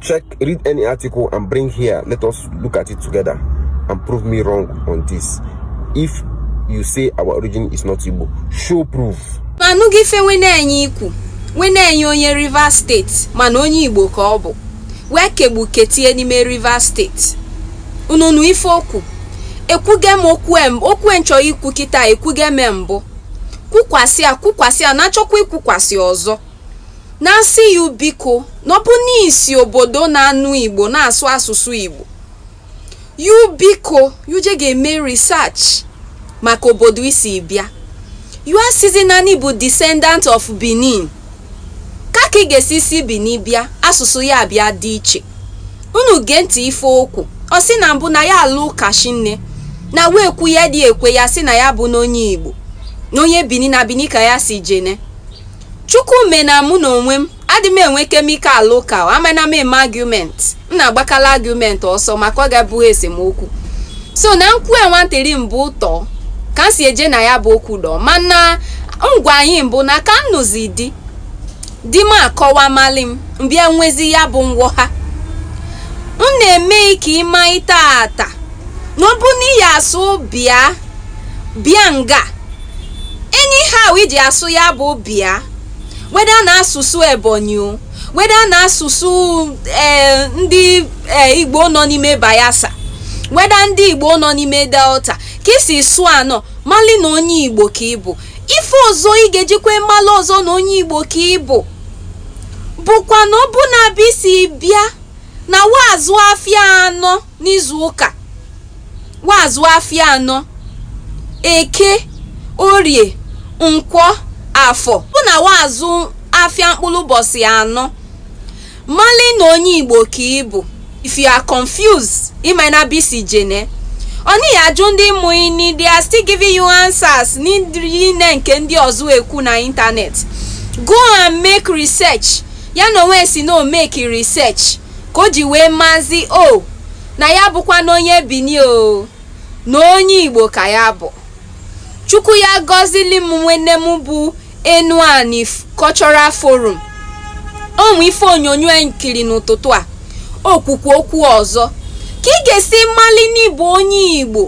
Check, read any article and bring here. Let us look at it together and prove me wrong on this. If you say our origin is not Igbo, show proof. Unu anụge ife nwene anyị kwu, nwene anyị onye Rivers State mana onye Igbo ka ọ bụ. Wee kegbu ketie n'ime Rivers State. Unu nụ ife o kwu. Ekwuge m okwu em, okwu nchọ ikwu kịta ekwuge m mbụ. Kwukwasịa kwukwasịa na-achọkwa ikwukwasị ọzọ. Na nsị yu biko, n'ọ bụ n'i si obodo n'anị Igbo na-asụ asụsụ Igbo. Yu biko, yu je ga-eme research maka obodo i si bịa. Yu asịzi na anyị bụ descendant of Benin. Ka ka ị ga-esi si Benin bịa, asụsụ ya abịa dị iche. Unu gee ntị ife o kwu. Ọ sị na mbụ na ya alụ ụka shinne. Na wa ekwu ya adị ekwe ya sị na ya abụna onye Igbo. N'onye Benin na Benin ka ya si jene. Chukwu me na mụ n'onwe m adị m enwe ike m ka alụ ụka amana m eme argument m na-agbakala argument ọsọ maka ọ ga-ebuhe esemokwu so na nkwue nwantịrị mbụ ụtọ ka m si eje na ya bụ okwu dọ mana m gwa anyị mbụ na ka m nụzi di di m akọwa mali m m bịa nwezi ya bụ nghọha m na-eme ka ị mali taata na ọ bụ n'ị ya asụ bịa bịa nga anyhow i ji asụ ya bụ bịa whether na asụsụ ebonyi o, whether na asụsụ ee ndị ee igbo nọ n'ime bayelsa whether ndị igbo nọ n'ime delta ka i si sụọ anọ mali na onye igbo ka ị bụ ife ọzọ ị ga-ejikwa amali ọzọ na onye igbo ka ị bụ bụkwa na ọ bụ na ebe i si bịa na wa azụ afịa anọ n'izu ụka wa azụ afịa anọ eke orie nkwọ afọ bụ na wa azụ afịa mkpụlụ ụbọsị anọ mali na onye igbo ka ị bụ if you are confused ị mana ebe i si jene ọ n'ị ya ajụ ndị mụ ị ni they are still giving you answers n'i nee nke ndị ọzọ ekwu na internet go and make research ya na onwe sị na o make research ka o ji wee mazi o na ya abụkwana onye Bini o na onye Igbo ka ya bụ Chukwu ya gọzili m nwene m bụ Enuani Cultural Forum o nwe ife onyonyo e nkiri n'ụtụtụ a o kwukwa okwu ọzọ ka ị ga-esi mali n'ị bụ onye Igbo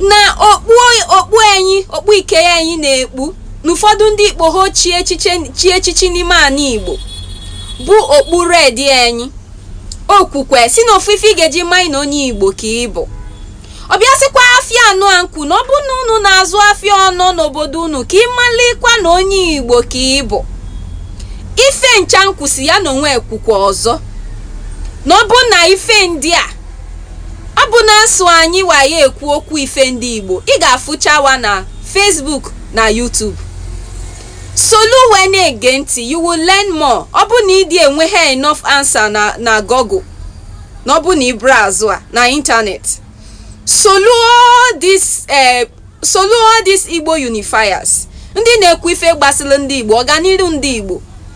na okpu okpu anyị okpu nke a anyị na-ekpu na ụfọdụ ndị Igbo ha chi echichi n'ime ani Igbo bụ okpu red anyị o kwukwe sị na ofu ife ị ga-eji mali na onye Igbo ka ị bụ ọ bịa sịkwa afịa anọ a m kwu na ọ bụ na unu na-azụ afịa anọ n'obodo unu ka ị malikwa na onye Igbo ka ị bụ ife ncha m kwusịa na o nwekwukwe ọzọ na ọ bụ na ife ndị a Ọ bụ na nsụ anyị waye ekwu okwu ife ndị Igbo, ị ga-afụcha wa na Facebook na YouTube. Solu wee na-ege ntị, you will learn more. Ọ bụ na ị dị enweghị enough answer na na Google, na ọ bụ na ị browse a na internet. Solu all this eh, solu all these Igbo unifiers. Ndị na-ekwu ife gbasalị ndị Igbo, ọganiru ndị Igbo.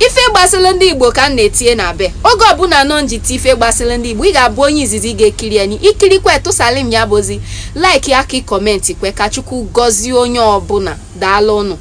ife gbasalị ndị igbo ka m na-etinye n'ebe oge ọbụna nọ m ji tie ife gbasalị ndị igbo ị ga-abụ onye izizi ga-ekiri ya i kirikwe tụsalị m ya bụ ozi like ya ka ị commentịkwe ka chukwu gọzie onye ọbụna daalụ ụnụ